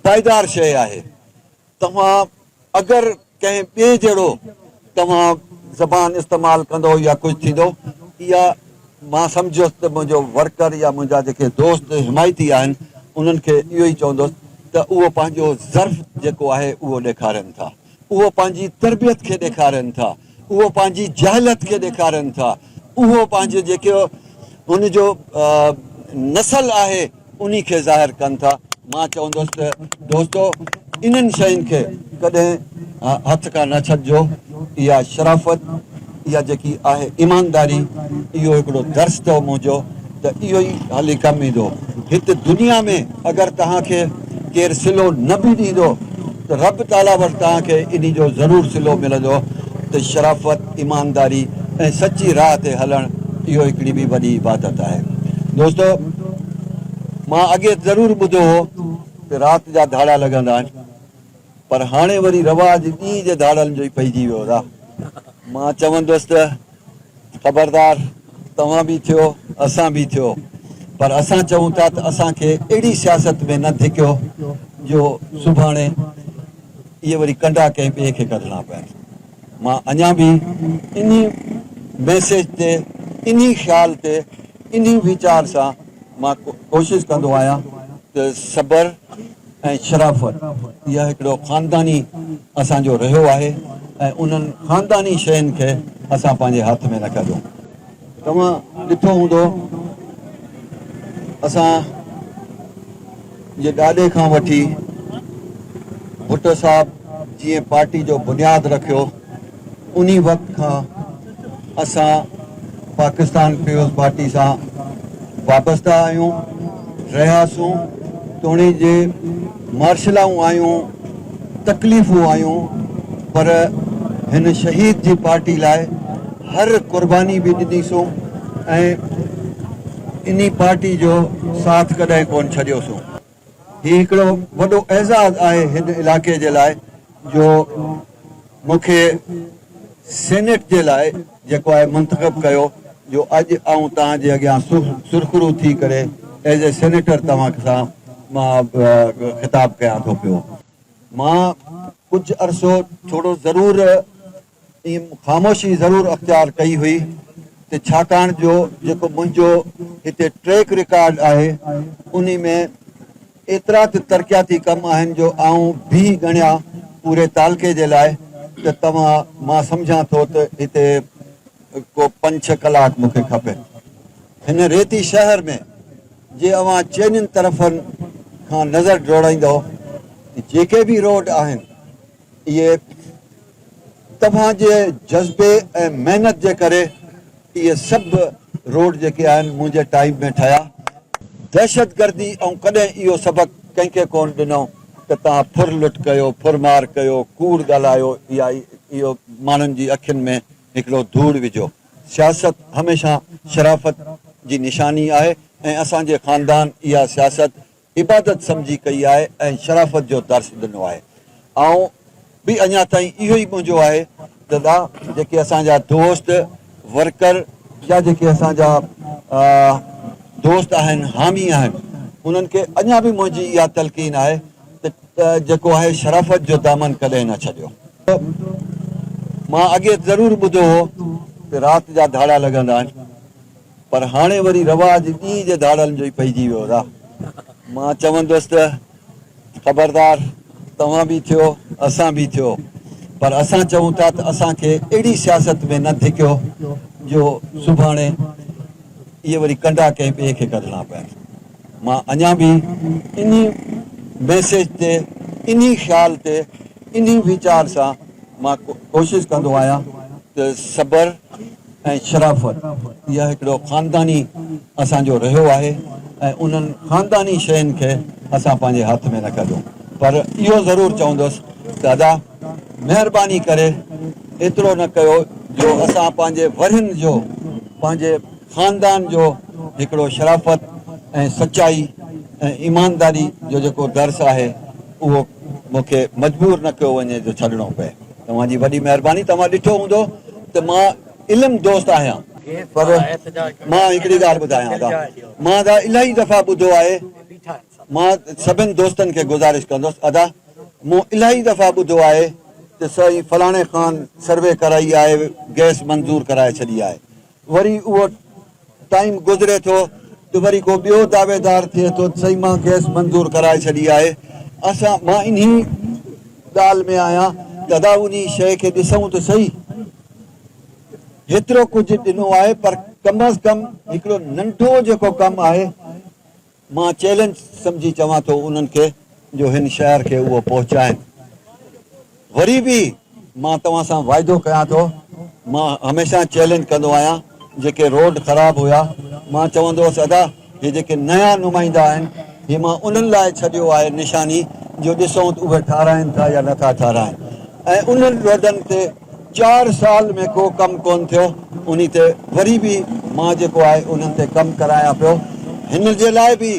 پائيدار شيء آهي. توهان اگر ڪنهن ٻئي جهڙو توهان زبان استعمال ڪندو يا ڪجهه ٿيندو اها مان سمجهيس ته منهنجو ورڪر يا منهنجا جيڪي دوست حمايتي آهن انهن کي اهو ئي چوندس ته اهو پنهنجو ظرف جيڪو آهي اهو ڏيکارين ٿا. اهو پنهنجي تربيت کي ڏيکارين ٿا، اهو پنهنجي جهالت کي ڏيکارين ٿا، اهو پنهنجي جيڪو ان جو نسل آهي انهي کي ظاهر ڪن ٿا. مان چوندس ته دوستو انهن شين کي ڪڏهن هٿ کان نه ڇڏجو، اها شرافت، اها جيڪي آهي ايمانداري، اهو هڪڙو درس اٿو منهنجو ته اهو ئي هلي ڪم ايندو. هت دنيا ۾ اگر توهان کي ڪير صلو نه به ڏيندو ته رب تعاليٰ وٽ توهان کي انهي جو ضرور صلو ملندو ته شرافت، ايمانداري ۽ سچي راهه تي هلڻ اهو هڪڙي ٻي وڏي عبادت آهي. دوستو! مان اڳي ضرور ٻڌو هو ته رات جا ڌاڙا لڳندا آهن. پر هاڻي وري رواج ڏينهن جي ڌاڙيلن جو ئي پئجي ويو را. مان چوندس ته خبردار توهان به ٿيو اسان به ٿيو پر اسان چئون ٿا ته اسان کي اهڙي سياست ۾ نه ڌڪيو جو سڀاڻي اهي وري ڪنڊا ڪنهن ٻئي کي ڪڍڻا پين. مان اڃا به انهي ميسيج تي انهي خيال تي انهي ويچار سان مان ڪوشش ڪندو آهيان ته صبر، ۽ شرافت اها هڪڙو خانداني اسان جو رهيو آهي ۽ انهن خانداني شين کي اسان پنهنجي هاٿ ۾ نه ڪڍيو توهان ڏٺو هوندو اسان جي ڏاڏي کان وٺي ڀٽو صاحب جيئن پارٽي جو بنياد رکيو. انهي وقت کان اسان پاڪستان پيپلز پارٽي سان وابسته آهيون، رهياسون، توڻي جي مارشلائون آيون، تڪليفون آيون پر هن شهيد جي پارٽي لاء هر قرباني به ڏنيسون ۽ انهي پارٽي جو ساٿ ڪڏهن ڪونه ڇڏيوسون. هي هڪڙو وڏو اعزاز آهي هن علائقي جي لاء جو مون کي سينيٽ جي لاء جيڪو آهي منتخب ڪيو جو اڄ آئون توهان جي اڳيان سرخرو ٿي ڪري ايز اي سينيٽر توهان سان مان خطاب ڪيان ٿو پيو. مان ڪجهه عرصو ٿورو ضرور ائين خاموشي ضرور اختيار ڪئي هئي ته ڇاڪاڻ جو جيڪو منهنجو هتي ٽريڪ رڪارڊ آهي انهي ۾ ايترا ته ترقياتي ڪم آهن جو آئون به ڳڻيا پوري تعلقي جي لاء ته توهان مان سمجهان ٿو ته هتي ڪو پنج ڇهه ڪلاڪ مون کي کپين. هن ريتي شهر ۾ جي اوهان چئنين طرفن کان نظر ڊوڙائيندؤ ته جيڪي به روڊ آهن اهي توهان جي جذبي ۽ محنت جي ڪري اهي سڀ روڊ جيڪي آهن منهنجي ٽائيم ۾ ٺهيا دهشتگردي ائون ڪڏهن اهو سبق ڪنهن کي ڪون ڏنو ته توهان ڦر لٽ ڪيو ڦر مار ڪيو ڪوڙ ڳالهايو يا اهو ماڻهن جي اکين ۾ هڪڙو ڌوڙ وجهو سياست هميشه شرافت جي نشاني آهي ۽ اسان جي خاندان اها سياست عبادت سمجهي ڪئي آهي ۽ شرافت جو درس ڏنو آهي آئون به اڃا تائين اهو ئي ڳونجو آهي ته دا جيڪي اسان جا دوست ورڪر يا جيڪي اسان جا دوست آهن حامي آهن انهن کي اڃا به منهنجي اها تلقين آهي ته جيڪو آهي شرافت جو دامن ڪڏهن نه ڇڏيو مان اڳي ضرور ٻڌو هو ته رات جا ڌاڙا لڳندا آهن. پر هاڻي وري رواج ڏينهن جي ڌاڙيلن جو ئي پئجي ويو رح مان چوندس ته خبردار توهان به ٿيو اسان به ٿيو پر اسان چئون ٿا ته اسان کي اهڙي سياست ۾ نه ڌڪيو جو سڀاڻي اهي وري ڪنڊا ڪنهن ٻئي کي ڪڍڻا پين مان اڃا به انهي ميسيج تي انهي خيال تي انهي ويچار سان مان ڪوشش ڪندو آهيان ته صبر ۽ شرافت اها هڪڙو خانداني اسان جو رهيو آهي ۽ انهن خانداني شين کي اسان پنهنجي هٿ ۾ نه ڪڍيو پر اهو ضرور چوندس ته ادا مهرباني ڪري ايترو نه ڪيو جو اسان پنهنجي ورهين جو پنهنجي خاندان جو هڪڙو شرافت ۽ سچائي ۽ ايمانداري جو جيڪو درس آهي اهو مون کي مجبور نه ڪيو وڃي جو ڇڏڻو پئي. توهان جي وڏي مهرباني توهان ڏٺو هوندو ته مان علم دوست آهيان پر مان هڪڙي ڳالهه ٻڌايان ٿا مان ادا الاهي دفعا ٻڌو آهي مان سڀن دوستن کي گذارش ڪندس ادا مون الاهي دفعا ٻڌو آهي ته سائين فلاڻي خان سروي ڪرائي آهي گئس منظور ڪرائي ڇڏي آهي وري اهو ٽائيم گذري ٿو ته وري ڪو ٻيو دعويدار ٿئي ٿو ته سائين مان گئس منظور ڪرائي ڇڏي آهي اسان مان انهي ڳالهه ۾ آهيان ته ادا انهي شيء کي ڏسون ته سهي هيترو ڪجهه ڏنو آهي پر ڪم از ڪم هڪڙو ننڍو جيڪو ڪم آهي مان چئلينج سمجهي چوان ٿو انهن کي جو هن شهر کي اهو پهچائين. وري به مان توهان سان واعدو ڪيان ٿو مان هميشه چئلينج ڪندو آهيان جيڪي روڊ خراب هيا مان چوندو هوس ادا هي جيڪي نيا نمائندا آهن هي مان انهن لاء ڇڏيو آهي نشاني جو ڏسون اهي ٺاراهين ٿا يا نٿا ٺاراهين ۽ انهن روڊن تي چار سال ۾ ڪو ڪم ڪون ٿيو انهي تي وري به مان جيڪو آهي انهن تي ڪم ڪرايان پيو هن جي لاء به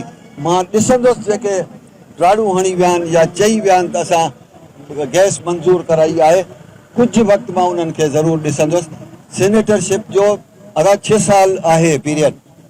مان ڏسندس جيڪي راڙون هڻي ويا آهن يا چئي ويا آهن ته اسان گئس منظور ڪرائي آهي ڪجهه وقت مان انهن کي ضرور ڏسندس سينيٽر شپ جو ادا ڇهه سال آهي پيريڊ.